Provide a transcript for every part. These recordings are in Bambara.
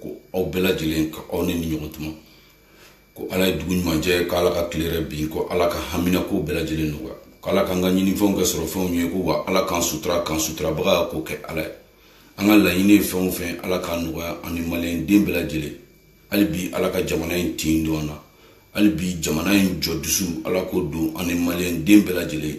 ko aw bɛɛ lajɛlen ka aw ni nin ɲɔgɔn tuma ko ala ye dugu ɲuman jɛ ko ala ka tile hɛrɛ bin ko ala ka hamina ko bɛɛ lajɛlen nɔgɔya ko ala k'an ka ɲinifɛnw kɛ sɔrɔfɛnw ye ko wa ala k'an sutura k'an suturabaga ko kɛ ala ye an ka laɲini ye fɛn o fɛn ala k'a nɔgɔya ani maliyɛn den bɛɛ lajɛlen hali bi ala ka jamana in tin don an na hali bi jamana in jɔ dusu ala k'o don ani maliyɛn den bɛɛ lajɛlen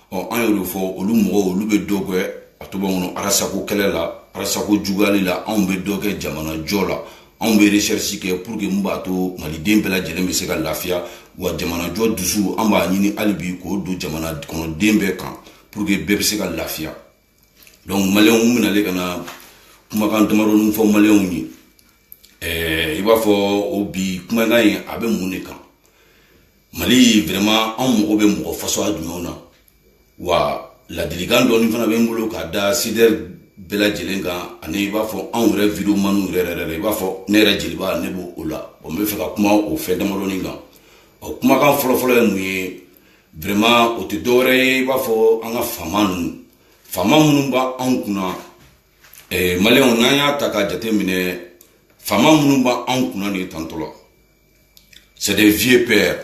ɔ an y'o de fɔ olu mɔgɔw olu bɛ dɔ kɛ a tɔgɔ kɔnɔ arasako kɛlɛ la arasako juguyali la anw bɛ dɔ kɛ jamana jɔ la anw bɛ recherche kɛ pour que mun b'a to maliden bɛɛ lajɛlen bɛ se ka lafiya wa jamanajɔ dusu an b'a ɲini hali bi k'o don jamana kɔnɔden bɛɛ kan pour que bɛɛ bɛ se ka lafiya donc maliyɛnw n bɛ nalen ka na kumakan damadɔni fɔ maliyɛnw ye ɛɛ i b'a fɔ o bi kumakan in a bɛ mun de kan mali vraiment anw mago bɛ mɔgɔ fasuguya jumɛnw na wa ladilikan dɔɔni fana bɛ n bolo ka da CDR bɛɛ lajɛlen kan ani i b'a fɔ anw yɛrɛ videomaniw yɛrɛ yɛrɛ la i b'a fɔ ne yɛrɛ jeliba ne b'o o la n bɛ fɛ ka kuma o fɛn damadɔni kan ɔ kumakan fɔlɔfɔlɔ ye mun ye vraiment o tɛ dɔwɛrɛ ye i b'a fɔ an ka faama ninnu faama minnu b'anw kunna eh, maliyɛnw n'an y'a ta k'a jateminɛ faama minnu b'anw kunna nin tantɔ la c'est des vieux pères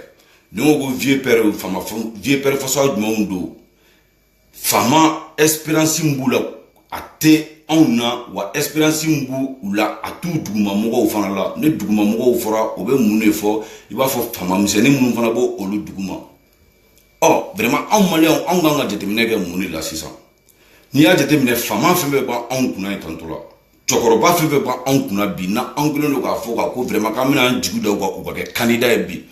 n'i ko ko vieux pères faama vieux pères fasuguya jumɛnw don faama expérience min b'u la a tɛ anw na wa expérience min b'u la a t'u duguma mɔgɔw fana la ni duguma mɔgɔw fɔra o bɛ mun de fɔ i b'a fɔ faama misɛnnin minnu fana b'olu duguma ɔ vraiment anw maliyɛnw anw kan ka jateminɛ kɛ mun de la sisan n'i y'a jateminɛ faama fɛn fɛn b'anw kunna ye tantɔ la cɛkɔrɔba fɛn fɛn b'anw kunna bi na anw kɛlen don k'a fɔ ka ko vraiment k'an bɛna an jigi da u kan u ka kɛ kandida ye bi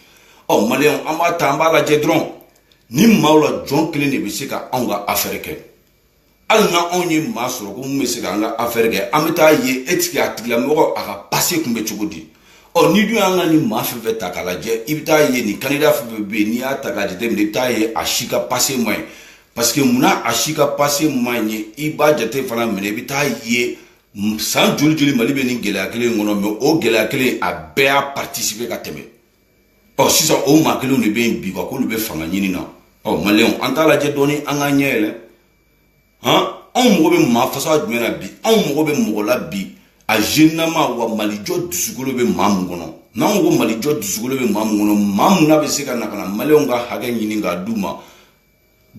ɔ maliyɛnw an b'a ta an b'a lajɛ dɔrɔn nin maaw la jɔn kelen de bɛ se ka anw ka afɛɛrɛ kɛ hali n'anw ye maa sɔrɔ ko min bɛ se ka an ka afɛɛrɛ kɛ an bɛ taa ye e tigi a tigilamɔgɔ a ka pase kun bɛ cogo di ɔ n'i dun y'an ka nin maa fɛn fɛn ta k'a lajɛ i bɛ taa ye nin kandida fɛn fɛn bɛ yen n'i y'a ta k'a jateminɛ i bɛ taa ye a si ka pase man ɲi parce que munna a si ka pase man ɲi i b'a jate fana minɛ i bɛ taa ye san joli joli mali bɛ nin gɛlɛya kelen in kɔnɔ mɛ o gɛlɛya kelen a bɛɛ y'a participer ka tɛmɛ ɔ sisan o maa kelenw de bɛ yen bi ka k'olu bɛ fanga ɲini na ɔ maliyɛnw an t'a lajɛ dɔɔni an k'an ɲɛ yɛlɛ han anw mago bɛ maa fasuguya jumɛn na bi anw mago bɛ mɔgɔ la bi a zenama wa malijɔ dusukolo bɛ maa min kɔnɔ n'an ko ko malijɔ dusukolo bɛ maa min kɔnɔ maa min na bɛ se ka na ka na maliyɛnw ka hakɛ ɲini k'a d'u ma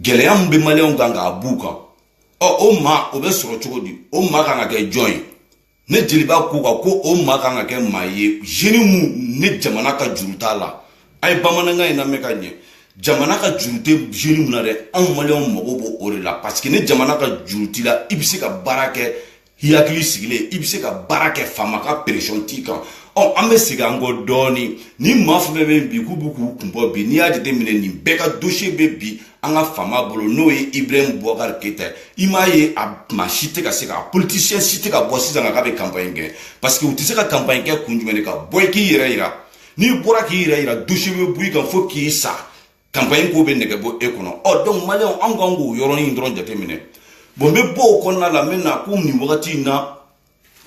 gɛlɛya min bɛ maliyɛnw kan k'a b'u kan ɔ o maa o bɛ sɔrɔ cogo di o maa kan ka kɛ jɔn ye ne jeliba ko ka ko o maa kan ka kɛ maa ye zeni mun ni jamana ka juru t'a la a ye bamanankan in lamɛn ka ɲɛ jamana ka juru tɛ zeni mun na dɛ anw maliyɛnw mago b'o o de la parce que ni jamana ka juru t'i la i bɛ se ka baara kɛ i hakili sigilen i bɛ se ka baara kɛ faama ka pression t'i kan ɔ an bɛ segin an kɔ dɔɔnin ni maa fɛn fɛn bɛ yen bi k'u bɛ k'u kun bɔ bi n'i y'a jateminɛ nin bɛɛ ka dosiye bɛ bi an ka faama bolo n'o ye ibrahim bubakar keyita i m'a ye a maa si tɛ ka se ka politisiyɛn si tɛ ka bɔ sisan ka k'a bɛ kanpaɲi kɛ parce que u tɛ se ka kanpaɲi kɛ kun jumɛn de kan bɔ i k'i yɛrɛ yira n'i bɔra k'i yɛrɛ yira dosiye bɛ bɔ i kan fo k'i sa kanpaɲi ko bɛ nɛgɛ bɔ e kɔnɔ ɔ donc maliyɛnw an kan k'o yɔrɔnin dɔrɔn jateminɛ bon n bɛ bɔ o kɔnɔna la n bɛ na ko nin wagati in na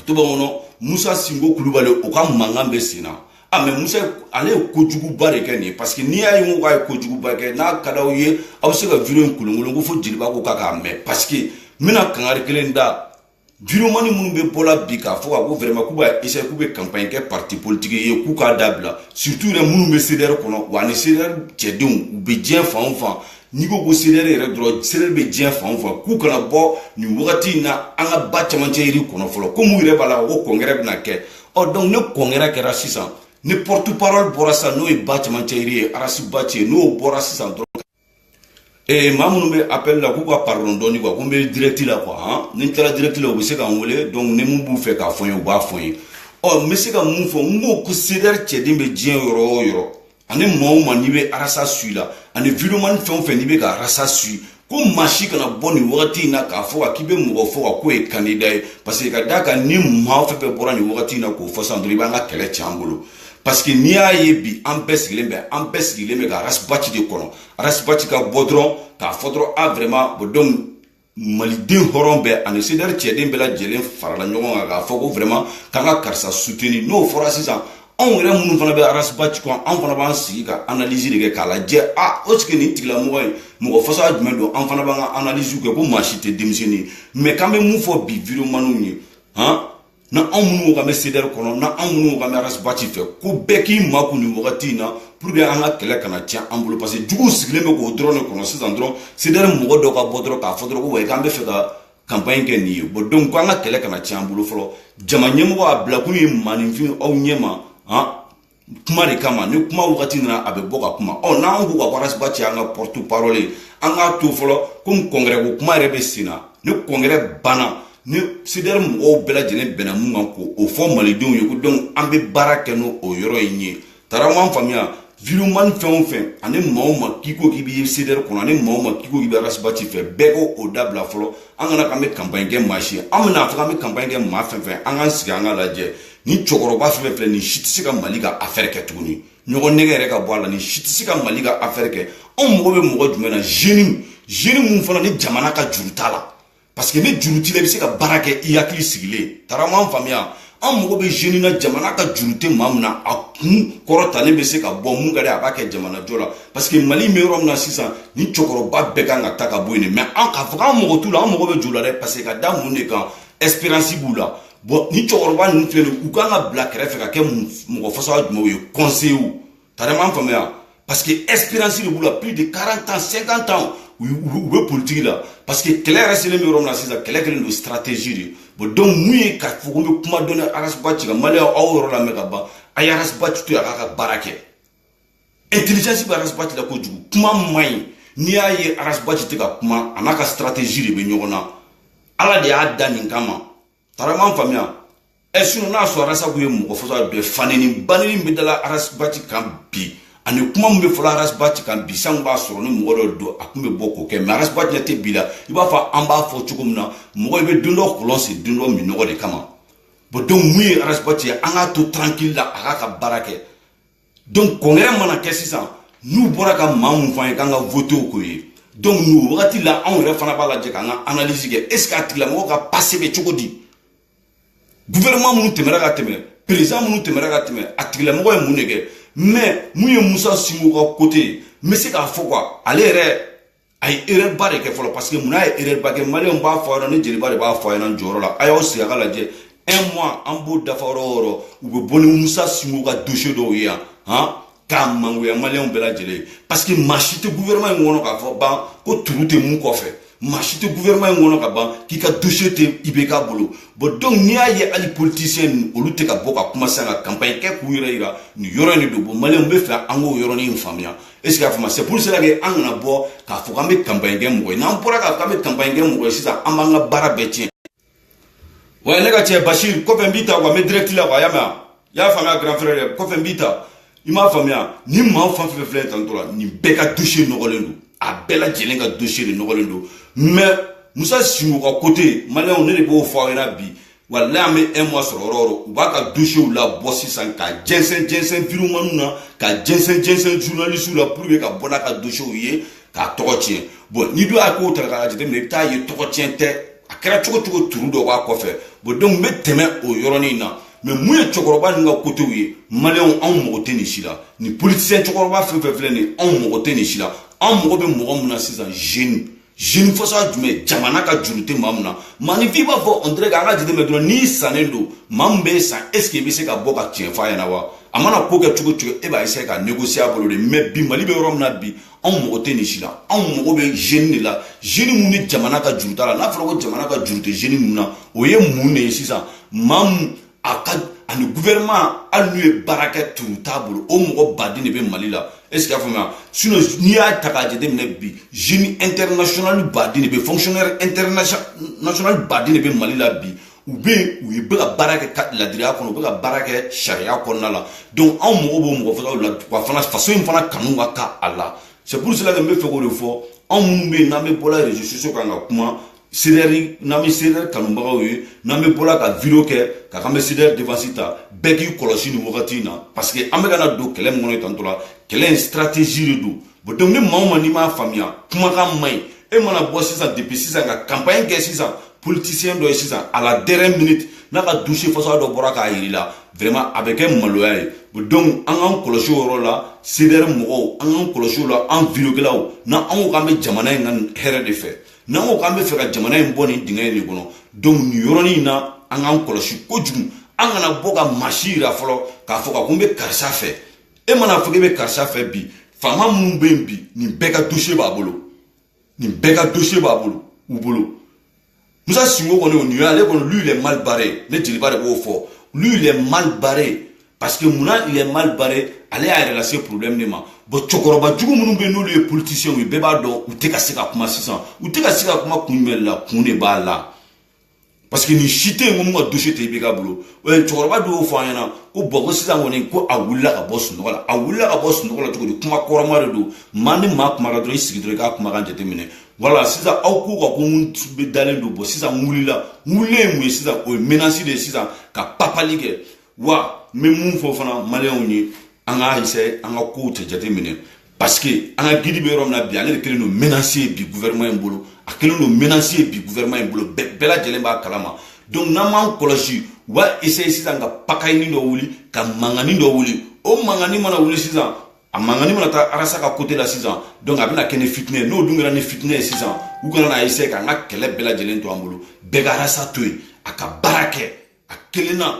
to b'an kɔnɔ musa sinko kulubali o ka mankan bɛ sen na a mɛ musa ale ye kojuguba de kɛ nin ye parce que n'i y'a ye ko k'a ye kojuguba kɛ n'a ka d'aw ye aw bɛ se ka video in kolonkolon ko fo jeliba ko k'a k'a mɛn parce que n bɛna kangari kelen da videomani minnu bɛ bɔla bi k'a fɔ ka ko vraiment k'u b'a essayer k'u bɛ campagne kɛ parti politique ye k'u k'a dabila surtout yɛrɛ minnu bɛ CDR kɔnɔ wa ani CDR cɛdenw u bɛ diɲɛ fan o fan n'i ko ko cdr yɛrɛ dɔrɔn cdr bɛ diɲɛ fan o fan k'u kana bɔ nin wagati in na an ka ba camancɛ yiri kɔnɔ fɔlɔ komi u yɛrɛ b'a la ko kɔnkɛrɛ bɛna kɛ ɔ donc ni kɔnkɛrɛ kɛra sisan ni porte parole bɔra sisan n'o ye ba camancɛ yiri ye arasibaci ye n'o bɔra sisan dɔrɔn ee maa minnu bɛ appel la k'u ka pardon dɔɔni quoi ko n bɛ direct la quoi han ni n taara direct la u bɛ se ka n wele donc ni mun b'u fɛ k'a fɔ n ye u b'a fɔ n ye ɔ n bɛ se ka mun fɔ n ko ko cdr cɛden bɛ diɲɛ yɔrɔ o yɔrɔ ani maa o maa n'i bɛ arasi suivre la ani videomani fɛn o fɛn n'i bɛ ka arasi suivre ko maa si kana bɔ nin wagati in na k'a fɔ ka k'i bɛ mɔgɔ fɔ ka k'o ye kandida ye paseke ka d'a kan ni maa fɛn fɛn bɔra nin wagati in na k'o fɔ sisan dɔrɔn i b'an ka kɛlɛ tiɲɛ an bolo paseke n'i y'a ye bi an bɛɛ sigilen bɛ an bɛɛ sigilen bɛ ka arasibaci de kɔnɔ arasibaci ka bɔ dɔrɔn k'a fɔ dɔrɔn a vraiment bon donc maliden hɔrɔn bɛɛ ani sedɛri cɛden bɛɛ lajɛlen farala ɲɔgɔn kan k'a fɔ ko vraiment k'an ka karisa suteni n'o fɔra sisan anw yɛrɛ minnu fana bɛ arasibaci kɔ anw fana b'an sigi ka analyse de kɛ k'a lajɛ a est-ce que nin tigilamɔgɔ ye mɔgɔ fasɔn jumɛn don an fana b'an ka analyse kɛ ko maa si tɛ denmisɛnnin ye mɛ k'an bɛ mun fɔ bi videomaniw ye han na anw minnu ka bɛ sedɛri kɔnɔ na anw minnu ka bɛ arasibaci fɛ ko bɛɛ k'i makun nin wagati in na pour que an ka kɛlɛ kana tiɲɛ an bolo parce que juguw sigilen bɛ k'o dɔrɔn de kɔnɔ sisan dɔrɔn sedɛri mɔgɔ dɔ ka bɔ dɔrɔn k'a fɔ dɔrɔn ko wayi k'an bɛ fɛ ka kanpaɲi kɛ nin ye bon donc ko an ka kɛlɛ kana tiɲɛ an bolo fɔlɔ jama ɲɛmɔgɔ a bilakun ye maninfin aw ɲɛma han kuma de kama ni kuma wagati nana a bɛ bɔ ka kuma ɔ n'an k'u ka arasibati ye an ka porte parole an k'a to fɔlɔ komi congrès ko kuma yɛrɛ bɛ sen na ni congrès banna ni sedɛri mɔgɔw bɛɛ lajɛlen bɛnna min kan k'o fɔ malidenw ye ko donc an bɛ baara kɛ n'o o yɔrɔ in ye tara m'an faamuya vraiment fɛn o fɛn ani maa o maa k'i ko k'i bɛ sedɛri kɔnɔ ani maa o maa k'i ko k'i bɛ arasibati fɛ bɛɛ k'o dabila fɔlɔ an kana k'an bɛ kanpaɲi kɛ maa si ye an bɛna fɔ k'an bɛ kanpaɲi kɛ maa fɛn fɛn an k'an sigi an k'a lajɛ nin cɛkɔrɔba fɛn fɛn nin si tɛ se ka mali ka afɛɛrɛ kɛ tuguni ɲɔgɔn nɛgɛn yɛrɛ ka bɔ a la nin si tɛ se ka mali ka afɛɛrɛ kɛ anw mago bɛ mɔgɔ jumɛn na jeune jeune min fana ni jamana ka juru t'a la parce que ni juru t'i la i bɛ se ka baara kɛ i hakili sigilen taara m'an faamuya an mago bɛ jeune na jamana ka juru tɛ maa min na a kun kɔrɔtalen bɛ se ka bɔ min ka di a b'a kɛ jamanajɔ la parce que mali bɛ yɔrɔ min na sisan nin cɛkɔrɔba bɛɛ kan ka ta ka bɔ yen de mais an t'a fɔ k'an mago t'u la an mago bɛ jɔ u la dɛ parce que ka da mun de kan expérience b'u la bon nin cɛkɔrɔba ninnu filɛ u kan ka bila kɛrɛfɛ ka kɛ mɔgɔ façon jumɛnw ye kɔnseyew tara m'an faamuya parce que expérience de b'u la plus de 40 ans 50 ans u bɛ politiki la parce que kɛlɛ yɛrɛ selen bɛ yɔrɔ min na sisan kɛlɛ kɛlen don stratégie de bon donc min ye k'a fɔ ko n bɛ kuma dɔɔni arasibati kan maliyɛn aw yɔrɔ lamɛn ka ban a ye arasibati to yen a k'a ka baara kɛ intelligence bɛ arasibati la kojugu kuma man ɲi n'i y'a ye arasibati tɛ ka kuma a n'a ka stratégie de bɛ ɲɔgɔn na ala de y'a da nin kama tara m'an faamuya ɛ sinɔn n'a sɔrɔ arasibati ye mɔgɔ façon bɛɛ fanɛni banɛni bɛ dala arasibati kan bi ani kuma min bɛ fɔ la arasibati kan bi sanko b'a sɔrɔ ni mɔgɔ dɔ don a tun bɛ bɔ k'o kɛ mais arasibati ɲɛ tɛ bi la i b'a fɔ an b'a fɔ cogo min na mɔgɔ i bɛ don dɔ kɔlɔn sen don dɔ minnɔgɔ de kama bon donc min ye arasibati ye an k'a to tranquille la a k'a ka baara kɛ donc congrès mana kɛ sisan n'u bɔra ka maa min fɔ an ye k'an ka voter k'o ye donc nin wagati la anw yɛrɛ fana b'a lajɛ k'an ka analyse kɛ est ce que a tigilamɔgɔ ka passé bɛ cogo di gouvernement minnu tɛmɛra ka tɛmɛ président minnu tɛmɛra ka tɛmɛ a tigilamɔgɔ ye mun de kɛ mais min ye musa sinko ka côté ye n bɛ se k'a fɔ quoi ale yɛrɛ a ye erreur ba de kɛ fɔlɔ parce que mun na a ye erreur ba kɛ maliyɛnw n b'a fɔ a ɲɛna ne jeliba de b'a fɔ a ɲɛna jɔyɔrɔ la a y'aw sigi a k'a lajɛ un mois an b'o dafa yɔrɔ o yɔrɔ u bɛ bɔ ni musa sinko ka dossier dɔw ye yan han k'a mangoya maliyɛnw bɛɛ lajɛlen ye parce que maa si tɛ gouvernement in kɔnɔ k'a fɔ ban ko trou tɛ min kɔfɛ maa si tɛ gouvernement in kɔnɔ ka ban k'i ka dossier tɛ ibk bolo bon donc n'i y'a ye hali politicien ninnu olu tɛ ka bɔ ka kuma sisan ka campagne kɛ k'u yɛrɛ yira nin yɔrɔ in de don bon maliyɛnw n b'a fɛ an k'o yɔrɔnin in faamuya e sigi a faamu c'est pour cela que an kana bɔ k'a fɔ k'an bɛ kanpaɲi kɛ mɔgɔ ye n'an bɔra k'a fɔ k'an bɛ kanpaɲi kɛ mɔgɔ ye sisan an b'an ka baara bɛɛ tiɲɛ wa ne ka cɛ basir kɔfɛ n b'i ta wa n bɛ direct la wa i y'a mɛn wa i y'a faamuya grand frère dɛ kɔfɛ n b'i ta i m'a faamuya nin maa fan fɛn fɛn tantɔ la nin bɛɛ ka dossier nɔgɔlen don a bɛɛ lajɛlen ka dossier de nɔgɔlen don mais musa sinko ka côté maliyɛnw ne de b'o fɔ aw ɲɛna bi walayi an bɛ un mois sɔrɔ yɔrɔ yɔrɔ u b'a ka dosiyew labɔ sisan ka jɛnsɛn jɛnsɛn videomaniw na ka jɛnsɛn jɛnsɛn journalisiw la pour que ka bɔ n'a ka dosiyew ye k'a tɔgɔ tiɲɛ bɔn ni dɔ y'a kow ta k'a jateminɛ i bɛ t'a ye tɔgɔ tiɲɛ tɛ a kɛra cogo cogo truc dɔ b'a kɔfɛ bɔn donc n bɛ tɛmɛ o yɔrɔnin na mais mun ye cɛkɔrɔba ninnu ka côté ye maliyɛnw anw mago tɛ nin si la nin politisiyɛn cɛkɔrɔba fɛn fɛn filɛ nin ye anw mago tɛ nin si la anw mago bɛ mɔgɔ min na sisan jeune jeune façon jumɛn jamana ka juru tɛ maa min na maninfin b'a fɔ on dirait an ka jateminɛ dɔrɔn n'i sannen don maa min b'i san est ce que i bɛ se ka bɔ ka tiɲɛ f'a ɲɛna wa a mana ko kɛ cogo cogo e b'a essayer ka négocier a bolo de mais bi mali bɛ yɔrɔ min na bi anw mago tɛ nin si la anw mago bɛ jeune de la jeune mun ni jamana ka juru t'a la n'a fɔra ko jamana ka juru tɛ jeune mun na o ye mun de ye sisan maa mun a ka ani gouvernement hali n'u ye baara kɛ tun t'a bolo o mɔgɔ baden de bɛ mali la est ce que y'a faamuya sinon n'i y'a ta k'a jateminɛ bi jeune international baden de bɛ fonctionnaire international baden de bɛ mali la bi u bɛ yen u ye bɛ ka baara kɛ ladiriya kɔnɔ u bɛ ka baara kɛ sariya kɔnɔna la donc anw mago b'o mɔgɔ façonw la wa fana faso in fana kanu ka kɛ a la c'est pour cela que n b'a fɛ k'o de fɔ anw minnu bɛ yen n'an bɛ bɔla réseaux sociaux kan ka kuma CDR n'an bɛ CDR kanubagaw ye n'an bɛ bɔla ka video kɛ k'an bɛ CDR défense ta bɛɛ k'i kɔlɔsi nin wagati in na parce que an bɛ ka na don kɛlɛ min kɔnɔ tantôt là kɛlɛ in stratégie de don bon donc ni maa o maa n'i m'a faamuya kumakan man ɲi e mana bɔ sisan depuis sisan ka campagne kɛ sisan politicien dɔ ye sisan à la dernière minute n'a ka dossier façon dɔ bɔra k'a yira i la vraiment a bɛ kɛ maloya ye donc an k'an kɔlɔsi o yɔrɔ la CDR mɔgɔw an k'an kɔlɔsi o la an videokɛlaw n'an ko k'an bɛ jamana in ka hɛrɛ de fɛ n'an ko k'an bɛ fɛ ka jamana in bɔ nin dingɛ in de kɔnɔ donc nin yɔrɔnin in na an k'an kɔlɔsi kojugu an kana bɔ ka maa si yira fɔlɔ k'a fɔ ka ko n bɛ karisa fɛ e mana fɔ k'e bɛ karisa fɛ bi faama minnu bɛ yen bi nin bɛɛ ka dossier b'a bolo nin bɛɛ ka dossier b'a bolo u bolo musa sinko kɔni o nin y'ale kɔni lui il est mal barré ne jeliba de b'o fɔ lui il est mal barré parce que mun na il est mal barré ale y'a yɛrɛ lase problème de ma bon cɛkɔrɔba jugu minnu bɛ yen n'olu ye politiciens ye bɛɛ b'a dɔn u tɛ ka se ka kuma sisan u tɛ ka se ka kuma kun jumɛn la kun de b'a la parce que nin si tɛ yen ko mun ka dossier tɛ IBK bolo cɛkɔrɔba dɔ y'o fɔ an ɲɛna ko bɔn ko sisan kɔni ko a wulila ka bɔ sunɔgɔ la a wulila ka bɔ sunɔgɔ la cogo di kuma kɔrɔma de don maa ni maa kumara dɔrɔn i sigi dɔrɔn i k'a kumakan jateminɛ voilà sisan aw k'u ka ko n bɛ dalen don bɔn sisan n wulila n wulilen ye mun ye sisan o ye menace de ye sisan ka bagabagali kɛ wa n bɛ mun fɔ fana maliyɛnw ye an k'a essaye an ka kow cɛ jate minɛ parce que an ka gidi bɛ yɔrɔ min na bi ale de kɛlen don menace ye bi gouvernement in bolo a kɛlen don menace ye bi gouvernement in bolo bɛɛ lajɛlen b'a kalama donc n'an m'an kɔlɔsi u b'a essaye sisan ka pagaille nin dɔ wuli ka mankannin dɔ wuli o mankan in mana wuli sisan a mankan in mana taa arasa ka côté la sisan donc a bɛna kɛ ni fitinɛ ye n'o dun kɛra ni fitinɛ ye sisan u kana na essaye k'an ka kɛlɛ bɛɛ lajɛlen to an bolo bɛɛ ka arasa to yen a ka baara kɛ a kelen na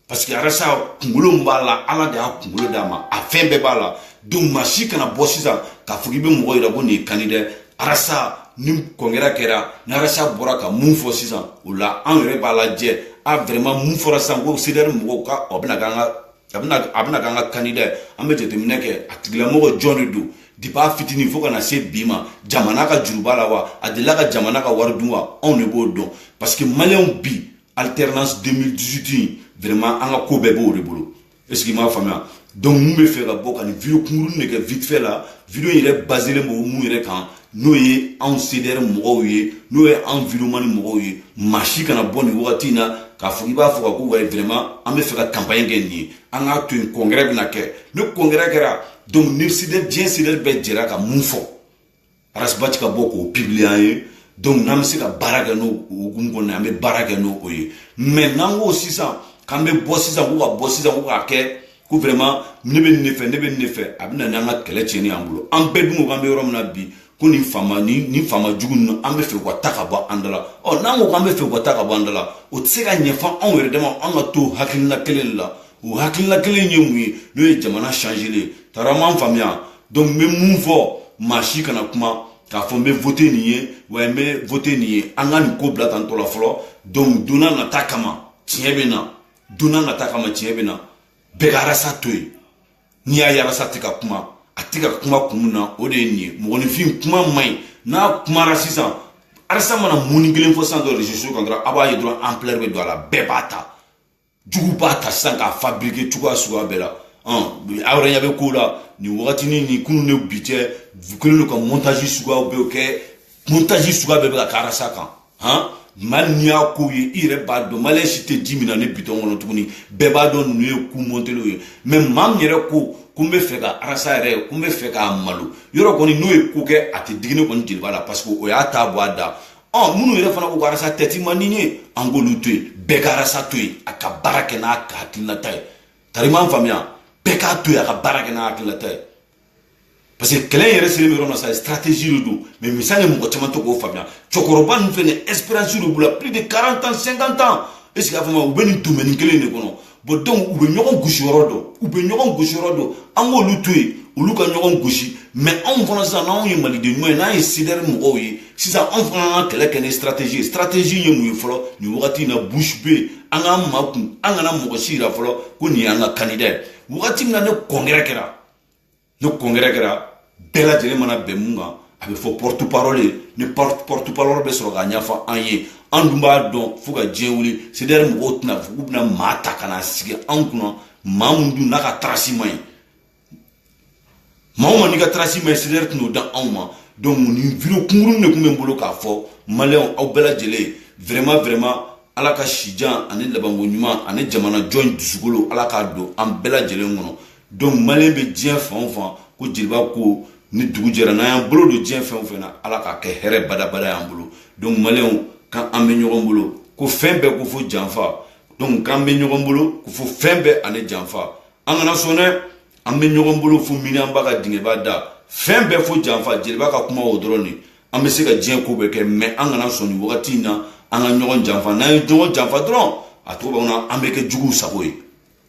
parce que arasa kunkolo min b'a la ala de y'a kunkolo d'a ma a fɛn bɛɛ b'a la donc maa si kana bɔ sisan k'a fɔ k'i bɛ mɔgɔ yira ko nin ye kandida ye arasa ni congrès kɛra ni arasa bɔra ka mun fɔ sisan o la an yɛrɛ b'a lajɛ a vraiment mun fɔra sisan ko cdr mɔgɔw ka a bɛna k'an ka a bɛna a bɛna k'an ka kandida ye an bɛ jateminɛ kɛ a tigilamɔgɔ jɔn de don depuis a fitinin fo ka na se bi ma jamana ka juru b'a la wa a delila ka jamana ka wari dun wa anw de b'o dɔn parce que maliyɛnw bi alternance 2018 in vraiment an ka ko bɛɛ b'o de bolo est-ce que i m'a faamuya donc mun bɛ fɛ ka bɔ ka nin video kunkuruni de kɛ vite fait la video in yɛrɛ baselen b'o mun yɛrɛ kan n'o ye anw cdr mɔgɔw ye n'o ye anw videomani mɔgɔw ye maa si kana bɔ nin wagati in na k'a fɔ i b'a fɔ ka ko wayi vraiment an bɛ fɛ ka campagne kɛ nin ye an k'a to yen congrès bɛna kɛ ni congrès kɛra donc ni cdr diɲɛ cdr bɛɛ jɛra ka mun fɔ arasi bati ka bɔ k'o publier an ye donc n'an bɛ se ka baara kɛ n'o hukumu kɔnɔ an bɛ baara kɛ n'o ye mais n'an ko sisan k'an bɛ bɔ sisan ko ka bɔ sisan ko k'a kɛ ko vraiment ne bɛ nin de fɛ ne bɛ nin de fɛ a bɛ na n'an ka kɛlɛ tiɲɛni y'an bolo an bɛɛ dun ko k'an bɛ yɔrɔ min na bi ko nin faama ni nin faama jugu ninnu an bɛ fɛ u ka taa ka bɔ an da la ɔ n'an ko k'an bɛ fɛ u ka taa ka bɔ an da la o tɛ se ka ɲɛ fo anw yɛrɛ dama an ka to hakilina kelen de la o hakilina kelen ye mun ye n'o ye jamana changeli ye tari m'an faamuya donc n bɛ mun fɔ maa si kana kuma k'a fɔ n bɛ vote nin ye wa n bɛ vote nin ye an ka nin ko bila attente la fɔlɔ donc donna nata kama tiɲɛ bɛ na donna nata kama tiɲɛ bɛ na bɛɛ ka arasa to yen n'i y'a ye arasa tɛ ka kuma a tɛ ka kuma kun min na o de ye nin ye mɔgɔninfin kuma man ɲi n'a kumara sisan arasa mana muni kelen fɔ sisan dɔrɔn reseau kan dɔrɔn a b'a ye dɔrɔn ampleur bɛ don a la bɛɛ b'a ta jugu b'a ta sisan k'a fabrike cogoya suguya bɛɛ la aw yɛrɛ ɲɛ bɛ ko la nin wagatini nin kunun ni bi cɛ kelen don ka montage suguyaw bɛɛ kɛ montage suguya bɛɛ bɛ ka k'arasa kan han mali n'i y'a kow ye i yɛrɛ b'a dɔn maliyɛn si tɛ ji min na ni bitɔn kɔnɔ tuguni bɛɛ b'a dɔn ninnu ye ko montelenw ye mais maa min yɛrɛ ko ko n bɛ fɛ ka arasa yɛrɛ ko n bɛ fɛ k'a malo yɔrɔ kɔni n'o ye ko kɛ a tɛ digi nin kɔni jeliba la parce que o y'a t'a bɔ a da ɔ minnu yɛrɛ fana ko ko arasa tête man di n ye an k'olu to yen bɛɛ ka arasa to yen a ka baara kɛ n'a ka hakilinata ye tari m'an faamuya bɛɛ k'a to yen a ka baara kɛ n'a hakilinata ye parce que kɛlɛ in yɛrɛ selen bɛ yɔrɔ min na sa stratégie de don mais misali ye mɔgɔ caman t'o ko faamuya cɛkɔrɔba ninnu filɛ nin ye expérience de b'u la plus de 40 ans 50 ans est ce que a fɔ ma u bɛ nin domaine kelen de kɔnɔ bɔn donc u bɛ ɲɔgɔn gosi yɔrɔ dɔn u bɛ ɲɔgɔn gosi yɔrɔ dɔn an k'olu to yen olu ka ɲɔgɔn gosi mɛ anw fana sisan n'anw ye maliden ɲuman ye n'an ye sidɛri mɔgɔw ye sisan anw fana an ka kɛlɛ kɛ ni stratégie ye stratégie ye mun ye fɔlɔ nin wagati in na bouche bée an k'an makun an kana mɔgɔ si yira fɔlɔ ko nin y'an ka candidat ye wagati min na ni congrès kɛra ni congrès kɛra bɛɛ lajɛlen mana bɛn mun kan a bɛ fɔ porte parole ye ni porte parole bɛ sɔrɔ k'a ɲɛfɔ an ye an dun b'a dɔn fo ka diɲɛ wuli sedɛri mɔgɔw tɛna fɔ k'u bɛna maa ta ka na sigi an kunna maa min dun n'a ka tarasi man ɲi maa o maa n'i ka tarasi man ɲi sedɛri tɛna o di anw ma donc nin video kunkurun de tun bɛ n bolo k'a fɔ maliyɛnw aw bɛɛ lajɛlen vraiment vraiment ala ka sijan ani labanko ɲuman ani jamana jɔ dusukolo ala k'a don an bɛɛ lajɛlen kɔnɔ donc maliyɛn bɛ diɲɛ fan o fan ko jeliba ko ni dugu jɛra n'an y'an bolo don diɲɛ fɛn o fɛn na ala k'a kɛ hɛrɛ badabada y'an bolo donc maliyɛnw ko an bɛ ɲɔgɔn bolo ko fɛn bɛɛ kɔ fo janfa donc k'an bɛ ɲɔgɔn bolo ko fo fɛn bɛɛ ani janfa an kana sɔn dɛ an bɛ ɲɔgɔn bolo fo miniyanba ka dingɛba da fɛn bɛɛ fo janfa jeliba ka kuma o dɔrɔn de an bɛ se ka diɲɛ ko bɛɛ kɛ mɛ an kana sɔn nin wagati in na an ka ɲɔgɔn janfa n'an ye ɲɔgɔn janfa dɔrɔn a tɔgɔ b'an na an bɛ kɛ juguw sago ye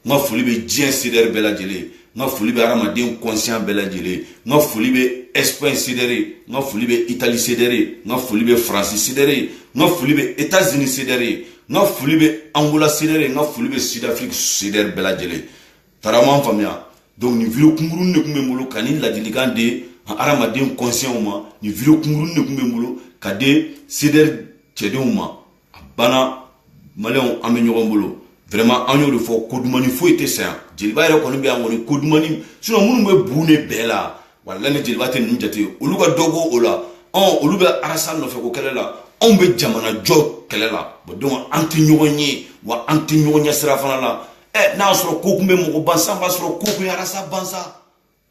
n ka foli bɛ diɲɛ sidɛri bɛɛ lajɛlen n ka foli bɛ hadamaden kɔnsiyan bɛɛ lajɛlen n ka foli bɛ ɛsipaɲi sidɛri n ka foli bɛ itali sidɛri n ka foli bɛ faransi sidɛri n ka foli bɛ etazini sidɛri n ka foli bɛ angola sidɛri n ka foli bɛ sidafiriki sidɛri bɛɛ lajɛlen tarama faamuya donc nin video kunkuruni de tun bɛ n bolo ka nin ladilikan di hadamaden kɔnsiyanw ma nin video kunkuruni de tun bɛ n bolo ka di sidɛri cɛdenw ma a banna maliyɛnw an bɛ ɲɔgɔn bolo vraiment an y'o de fɔ ko dumuni foyi tɛ saya jeliba yɛrɛ kɔni bɛ yan kɔni ko dumuni sinon minnu bɛ bu ne bɛɛ la walayi jeliba tɛ ninnu jate olu ka dɔ ko o la ɔn olu bɛ arasa nɔfɛ ko kɛlɛ la anw bɛ jamana jɔ kɛlɛ la bon donc an tɛ ɲɔgɔn ye wa an tɛ ɲɔgɔn ɲɛ sira fana la ɛ n'a sɔrɔ ko kun bɛ mɔgɔ ban san b'a sɔrɔ ko kun ye arasa ban sa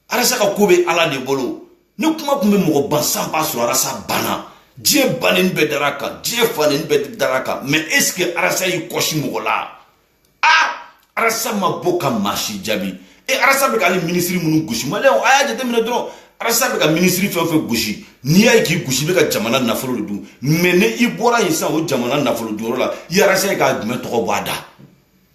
arasa ka ko bɛ ala de bolo ni kuma tun bɛ mɔgɔ ban san b'a sɔrɔ arasa banna diɲɛ fan naani bɛɛ dar'a kan diɲɛ fan naani bɛɛ dar'a kan mɛ est-ce que arasa y'i kɔsi mɔgɔ la a arasa ma bɔ ka maa si jaabi e arasa bɛ ka hali minisiri minnu gosi maliyɛnw a y'a jateminɛ dɔrɔn arasa bɛ ka minisiri fɛn o fɛn gosi n'i y'a ye k'i gosi i bɛ ka jamana nafolo de dun mɛ ni i bɔra yen sisan o jamana nafolo dunyɔrɔ la i y'arasa ye ka jumɛn tɔgɔ bɔ a da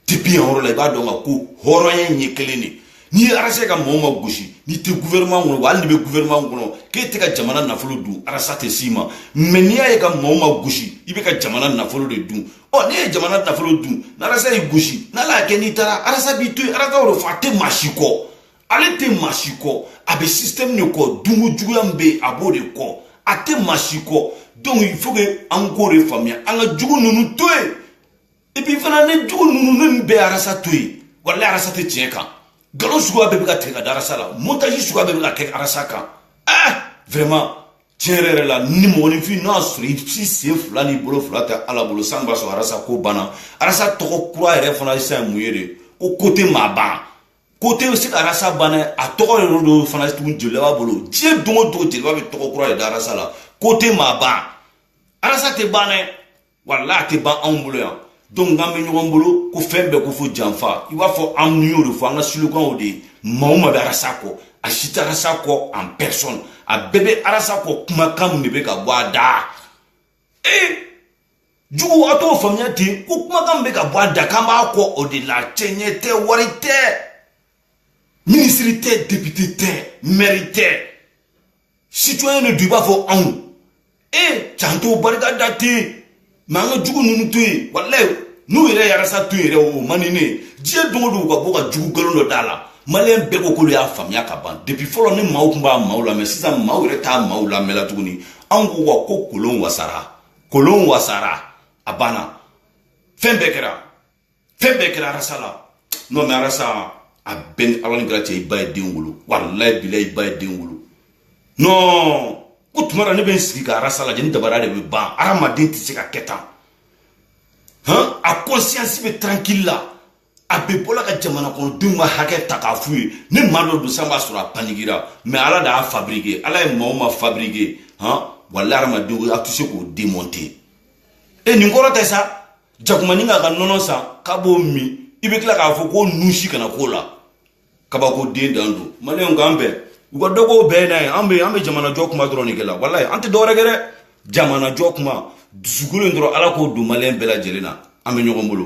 depuis yan yɔrɔ la i b'a dɔn ka ko hɔrɔnya in ye kelen de n'i ye arasa ka mɔgɔ o maa gosi n'i tɛ gouvernement kɔnɔ wa hali n'i bɛ gouvernement kɔnɔ k'e tɛ ka jamana nafolo dun arasa tɛ s'i ma mɛ n'i y'a ye a ka mɔgɔ o maa gosi i bɛ ka jamana nafolo de dun ɔ n'e ye jamana nafolo dun n'arasa y'i gosi n'ala y'a kɛ n'i taara arasa b'i to yen arasa y'o de fɔ a tɛ maa si kɔ ale tɛ maa si kɔ a bɛ système de kɔ dunko juguya min bɛ yen a b'o de kɔ a tɛ maa si kɔ donc il faut que an k'o de faamuya an ka jugu ninnu to yen et puis fana ne jugu ninnu ne nin bɛɛ arasa to yen walayi arasa tɛ tiɲɛ kan nkalon suguya bɛɛ bɛ ka tigɛ ka da arasa la montage suguya bɛɛ bɛ ka kɛ arasa kan ah vraiment tiɲɛ yɛrɛ yɛrɛ la ni mɔgɔninfin n'a sɔrɔ i si sen fila ni bolo fila tɛ ala bolo san b'a sɔrɔ arasa ko banna arasa tɔgɔ kura yɛrɛ fana sisan ye mun ye de ko ko tɛ maa ban ko tɛ se ka arasa ban dɛ a tɔgɔ yɛrɛ don fana tun jeliba b'a bolo diɲɛ don o don jeliba bɛ tɔgɔ kura de da arasa la ko tɛ maa ban arasa tɛ ban dɛ walayi a tɛ ban anw bolo yan donc n'an bɛ ɲɔgɔn bolo ko fɛn bɛɛ ko fo janfa i b'a fɔ an n'u y'o de fɔ an ka slogan de ye maa o maa bɛ arasa kɔ a si tɛ arasa kɔ en personne a bɛɛ bɛ arasa kɔ kumakan min de bɛ ka bɔ a da ee jugu a t'o faamuya ten ko kumakan min bɛ ka bɔ a da k'an b'a kɔ o de la cɛɲɛ tɛ wari tɛ minisiri tɛ depite tɛ mɛri tɛ citoyen de don i b'a fɔ anw e can t'o barika da ten mais an ka jugu ninnu to yen walayi n'u yɛrɛ y'arasa to yen yɛrɛ o man di ne ye diɲɛ don o don u ka bɔ ka jugu nkalon dɔ d'a la maliyɛn bɛɛ ko k'olu y'a faamuya ka ban depuis fɔlɔ ni maaw tun b'a maaw lamɛn sisan maaw yɛrɛ t'a maaw lamɛn la tuguni anw ko wa ko kolon wasara kolon wasara a banna fɛn bɛɛ kɛra fɛn bɛɛ kɛra arasa la non mais arasa a b'e ni ala ni kira cɛ i ba ye den wolo walayi bilayi i ba ye den wolo non ko tuma dɔ ne bɛ n sigi ka arasa lajɛ ne dabali de bɛ ban adamaden tɛ se ka kɛ tan hɔn a conscience bɛ tranquille la a bɛ bɔla ka jamana kɔnɔdenw ka hakɛ ta k'a f'u ye ni maa dɔ don san b'a sɔrɔ a panikera mais ala de y'a fabrike ala ye maa o maa fabrike hɔn walayi adamadenw a tɛ se k'o demonte e nin kɔrɔ tɛ sa jakumanin k'a ka nɔnɔ san k'a b'o min i bɛ tila k'a fɔ ko nunsi kana k'o la kabako de dan don maliyɛnw k'an bɛn u ka dɔ k'o bɛɛ n'a ye an bɛ an bɛ jamanajɔ kuma dɔrɔn de kɛ la walayi an tɛ dɔwɛrɛ kɛ dɛ jamanajɔ kuma dusukolo in dɔrɔn ala k'o don maliyɛn bɛɛ lajɛlen na an bɛ ɲɔgɔn bolo